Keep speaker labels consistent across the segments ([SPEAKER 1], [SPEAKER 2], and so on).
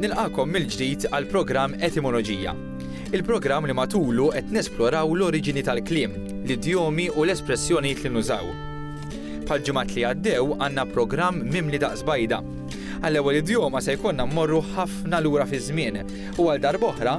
[SPEAKER 1] Nilqakom mill-ġdid għal programm Etimoloġija. Il-programm li matulu qed nesploraw l-oriġini tal-kliem, l-idjomi u l-espressjonijiet li nużaw. Bħal ġimgħat li għaddew għandna programm mimli daqs bajda. Għall-ewwel idjoma se jkollna mmorru ħafna lura fiż-żmien u għal darboħra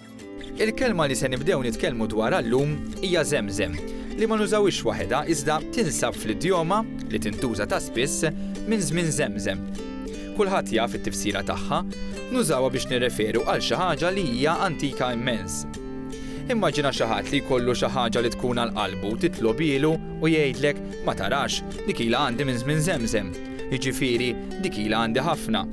[SPEAKER 1] Il-kelma li se nibdew nitkellmu dwarha llum hija żemżem, li ma nużawhiex waħedha iżda tinsab fl-idjoma, li tintuża ta' spiss, minn żmien żemżem. Kulħadd jaf it-tifsira tagħha, nużawha biex nirreferu għal xi ħaġa li hija antika immens. Immaġina xi ħadd li jkollu xi ħaġa li tkun għal qalbu titlobhielu u jgħidlek, ma tarax, dik ilha għandi minn żmien żemżem. Jiġifieri, dik ilha għandi ħafna.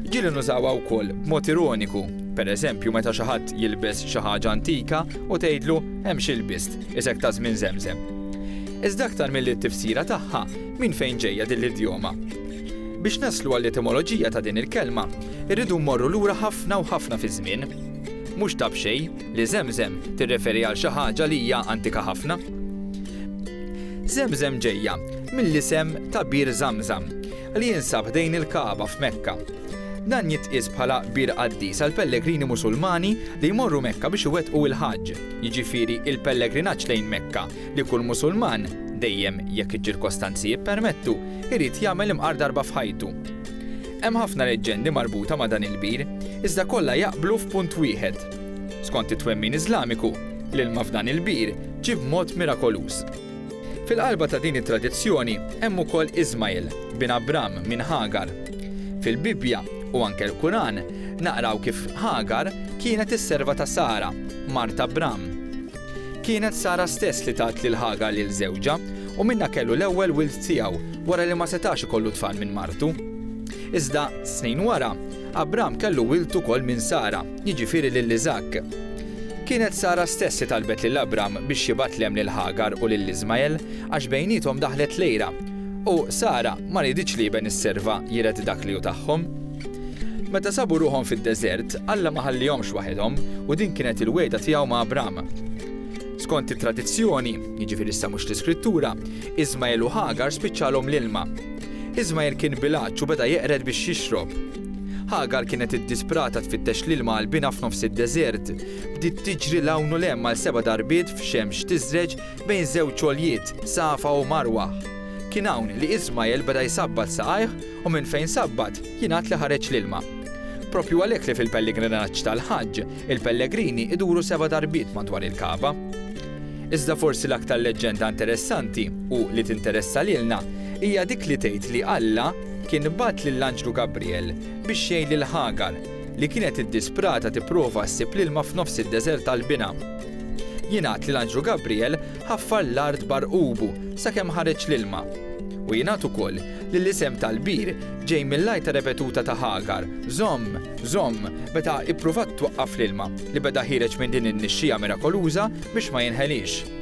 [SPEAKER 1] Ġieli nużawha wkoll b'mod ironiku. Per eżempju, meta xi ħadd jilbes xi ħaġa antika u tgħidlu, hemm xi lbist, isek ta' żmien żemżem. Iżda aktar milli t-tifsira tagħha, minn fejn ġejja din l-idjoma? Biex naslu għall-etimoloġija ta' din il-kelma, irridu mmorru lura ħafna u ħafna fiż-żmien. Mhux ta' b'xejn, Li Żemżem tirreferi għal xi ħaġa li hija antika ħafna. Żemżem ġejja mill-isem ta' Bir Żamżam li jinsab ħdejn il-Kagħba f'Mekka. Dan jitqies bħala bir qaddis għal pellegrini Musulmani li jmorru Mekka biex iwettqu il-Ħaġġ, jiġifieri il-pellegrinaġġ lejn Mekka li kull Musulman, dejjem jekk iċ-ċirkostanzi jippermettu, irid jagħmel imqar darba f'ħajtu. Hemm ħafna leġġendi marbuta ma' dan il-bir, iżda kollha jaqblu f'punt wieħed. Skont it-twemmin Iżlamiku, l-ilma f'dan il-bir ġie b'mod mirakoluż. Fil-qalba ta' din it-tradizzjoni hemm ukoll Ismagħil, bin Abram minn Ħagar. Fil-Bibbja, u anke l-Quran, naqraw kif Ħagar kienet is-serva ta' Sara, mart Abram. Kienet Sara stess li tat lil Ħagar lil żewġha, u minnha kellu l-ewwel wild tiegħu wara li ma setax ikollu tfal minn martu. Iżda, snin wara, Abram kellu wild ukoll minn Sara, jiġifieri lil Iżakk. Kienet Sara stess li talbet lil Abram biex jibgħat l-hemm lil Ħagar u lil Iżmael għax bejniethom daħlet l-għira, u Sara ma riditx li iben is-serva jiret dak li hu tagħhom. Meta sabu ruħhom fid-deżert, Alla ma ħallihomx waħedhom u din kienet il-wegħda tiegħu ma' Abram. Skont it-tradizzjoni, jiġifieri issa mhux l-Iskrittura, Iżmael u Ħagar spiċċalhom l-ilma. Iżmajr kien bil-għatx u beda jeqred biex jixrob. Ħagar kienet iddisprata tfittex l-ilma għalbina f'nofs id-deżert. Bdiet tiġri 'l hawn u 'l hemm għal seba' darbiet f'xemx tiżreġ bejn żewġ għoljiet, Safa u Marwah. Kien hawn li Iżmajl beda jsabbat saqajh u minn fejn sabbat jingħad li ħareġ l-ilma. Proprju għalhekk li fil-pelligrinaġġ tal-Ħaġġ, il-pellegrini jduru seba' darbiet madwar il-Kagħba. Iżda forsi l-aktar leġġenda interessanti, u li tinteressa lilna, hija dik li tgħid li Alla kien bagħat lill-anġlu Gabriel biex jgħin lil Ħagar, li kienet iddisprata tipprova ssib l-ilma f'nofs id-deżert għall-binha. Jingħad li l-anġlu Gabriel ħaffar l-art b'għarqubu sakemm ħareġ l-ilma. U jingħad ukoll li l-isem tal-bir ġej mill-għajta repetuta ta' Ħagar, Żomm! Żomm! meta ippruvat twaqqaf l-ilma li beda ħiereġ minn din in-nixxiegħa mirakoluża biex ma jinħeliex.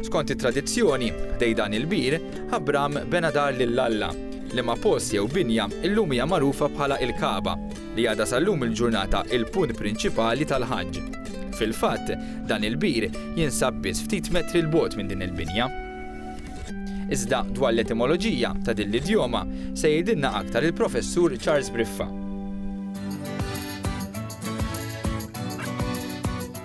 [SPEAKER 1] Skont it-tradizzjoni, ħdejn dan il-bir, Abram bena dar lil Alla, liema post jew binja illum hija magħrufa bħala il-Kagħba, li għadha sal-lum il-ġurnata il-punt prinċipali tal-Ħaġġ. Fil-fatt, dan il-bir jinsab biss ftit metri 'l bogħod minn din il-binja. Iżda dwar l-etimoloġija ta' din l-idjoma se jgħidilna aktar il-Professur Charles Briffa.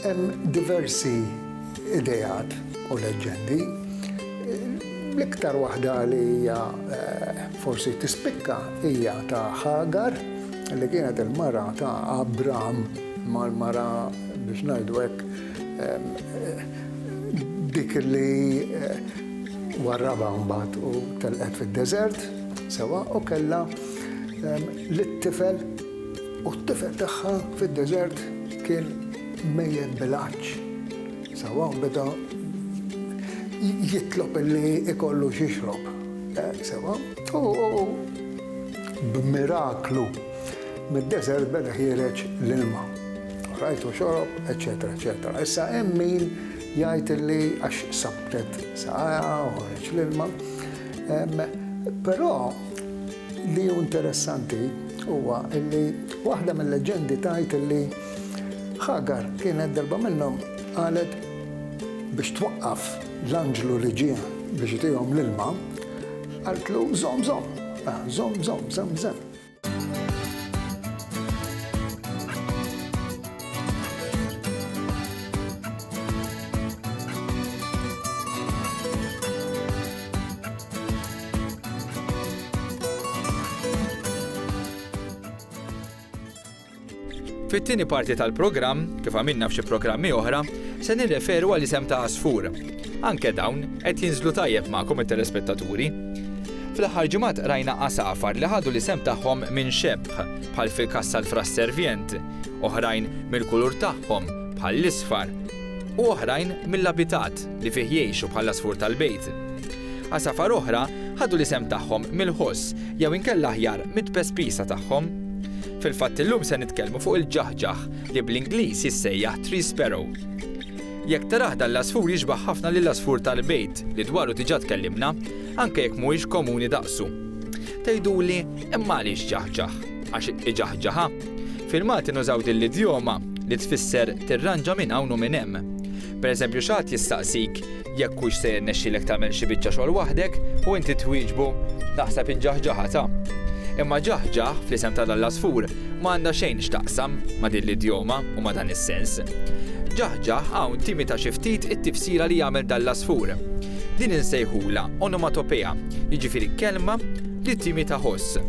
[SPEAKER 2] Hemm diversi ideat u leġġendi. L-iktar waħda li hija forsi tispikka hija ta' Ħagar li kienet il-mara ta' Abram mal-mara biex ngħidu hekk dik li warrabha mbagħad u telqet fid-deżert, sewwa, u kellha lit-tifel. U t-tifel tagħha fid-deżert kien mejjet bil-għatx. Sewa u beda jitlob illi ikollu x'jixrob. Sewa? U b'miraklu mid-deżert beda ħiereġ l-ilma. U rajt u xorob, eċċetera, eċċetera. Issa hemm min jgħid illi għax sabbtet saqajha u ħareġ l-ilma. Però Li hu interessanti huwa li waħda mil-leġendi tgħid li Ħagar kienet darba minnhom qalet biex twaqqaf l-anġlu li ġie biex itihom l-ilma, qaltlu żomm żomm, ah, żomm żomm, żomm żomm.
[SPEAKER 1] Fit-tieni parti tal-programm, kif għamilna f'xi programmi oħra, se nirreferu għal isem ta' Asfur. Anke dawn qed jinżlu tajjeb magħkom it-telespettaturi. Fl-aħħar ġimgħat rajna għasafar li ħadu l-isem tagħhom minn xebħ bħal fil-kassa l-fras servient, oħrajn mill-kulur tagħhom bħal l-isfar, u oħrajn mill-abitat li fih jgħixu bħal asfur tal-bejt. Għasafar oħra ħadu l-isem tagħhom mill-ħoss jew inkella aħjar mit-tpespisa tagħhom. Fil-fatt illum se nitkellmu fuq il-ġaħġaħ li bl-Ingliż jissejjaħ tree sparrow. Jekk tarah dan l-għasfur jixbah ħafna lill-għasfur tal-bejt li dwaru diġà tkellimna, anke jekk mhuwiex komuni daqsu. Tgħiduli, imma għaliex ġaħġaħ? Għax iġaħġaħa? Fil-Malti nużaw din l-idjoma li tfisser tirranġa minn hawn u minn hemm. Pereżempju xi ħadd jistaqsik jekk hux se jirnexxilek tagħmel xi biċċa xogħol waħdek u inti twieġbu, Naħseb inġaħġaħha ta'. Imma ġaħġaħ fl-isem ta' l-Alla Żfur ma għandha xejn x'taqsam ma' din l-idjoma u ma' dan is-sens. Ġaħġaħ hawn timita xi ftit it-tifsira li jagħmel dan l-għasfur. Din insejħulha onomatopea, jiġifieri kelma li timita ħoss.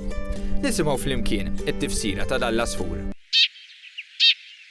[SPEAKER 1] Nisimgħu flimkien it-tifsira ta' dan l-għasfur.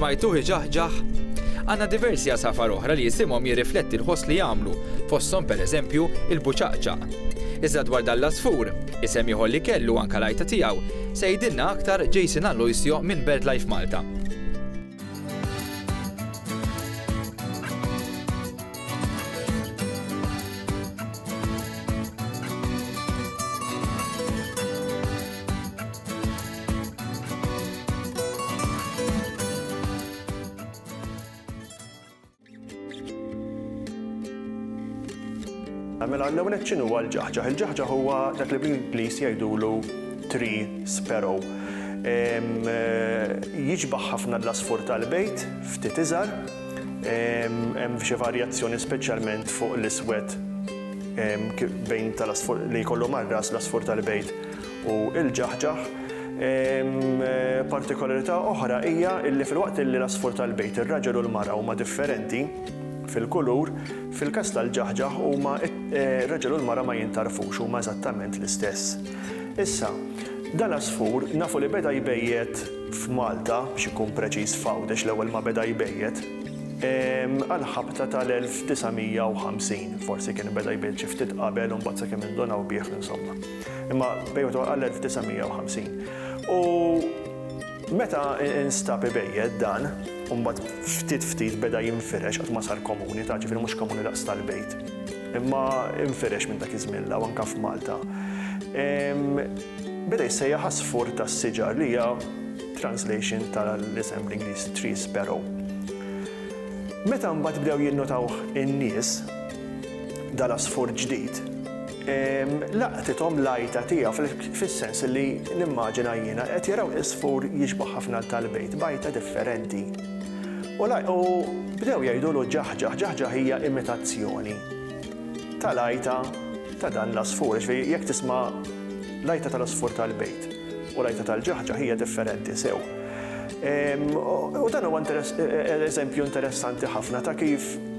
[SPEAKER 1] Smajtuh iġaħġaħ? Għandna diversi għasafar oħra li isimhom jirrifletti l-ħoss li jagħmlu, fosthom pereżempju il-buċaqċaq. Iżda dwar dan l-għasfur, isem ieħor li kellu anke l-għajta tiegħu, se jgħidilna aktar Jason Aloisio minn BirdLife Malta.
[SPEAKER 3] Mela l-ewwel qed x'inhu huwa l-ġaħġaħ? Il-ġaħġaħ huwa dak li bl-Ingliż jgħidulu tree sparrow. Jiġbaħ ħafna l-asfur tal-bejt, ftit iżgħar, hemm xi varjazzjoni speċjalment fuq l-iswed bejn tal-asfur li jkollu mar-ras l-asfur tal-bejt u l-ġaħġaħ. Partikolarità oħra hija li filwaqt li l-għasfur tal-bejt, ir-raġel u l-mara huma differenti fil-kulur, fil-każ tal-ġaħġaħ huma r-raġel u l-mara ma jintgħarfux, huma eżattament l-istess. Issa, dan l-għasfur nafu li beda jbejjet f'Malta, biex inkun preċiż f'Għawdex l-ewwel ma beda jbejjet, għall-ħabta tal-1950, forsi kien beda jbejjet xi ftit qabel u mbagħad sakemm indunaw bih, insomma. Imma bejgħu twaqqgħa l-1950. U meta instab ibejjed dan, u mbagħad ftit ftit beda jinfirex qatt ma sar komuni, ta' ġifieri mhux komuni daqs tal-bejt. Imma infirex minn dak iż-żmien l-hawn anke f'Malta. Beda jissejjaħ għasfur tas-siġar li hija translation tal-isem bl-Ingliż tree sparrow. Meta mbagħad bdew jinnotawh in-nies, dal-għasfur ġdid, Laqtithom l-għajta tiegħu, fis-sens li nimmaġina jiena, qed jaraw għisfur jixbah ħafna għal tal-bejt, b'għajta differenti. U bdew jgħidulu ġaħġaħ, ġaħġaħ hija imitazzjoni tal-għajta ta' dan l-għasfur, jiġifieri jekk tisma' l-għajta tal-għasfur tal-bejt u l-għajta tal-ġaħġaħ hija differenti sew. U dan huwa eżempju interessanti ħafna ta' kif,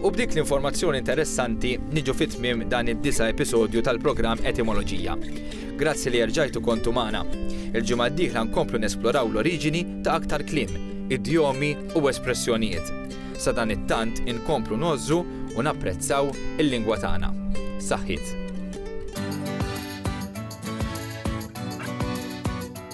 [SPEAKER 1] U b'dik l-informazzjoni interessanti niġu fi tmiem dan id-disa' episodju tal-programm Etimoloġija. Grazzi li erġajtu kontu magħna. Il-ġimgħa d-dieħla nkomplu nesploraw l-oriġini ta' aktar kliem, idjomi u espressjonijiet. Sadanittant inkomplu ngħożżu u napprezzaw il-lingwa tagħna. Saħħiet!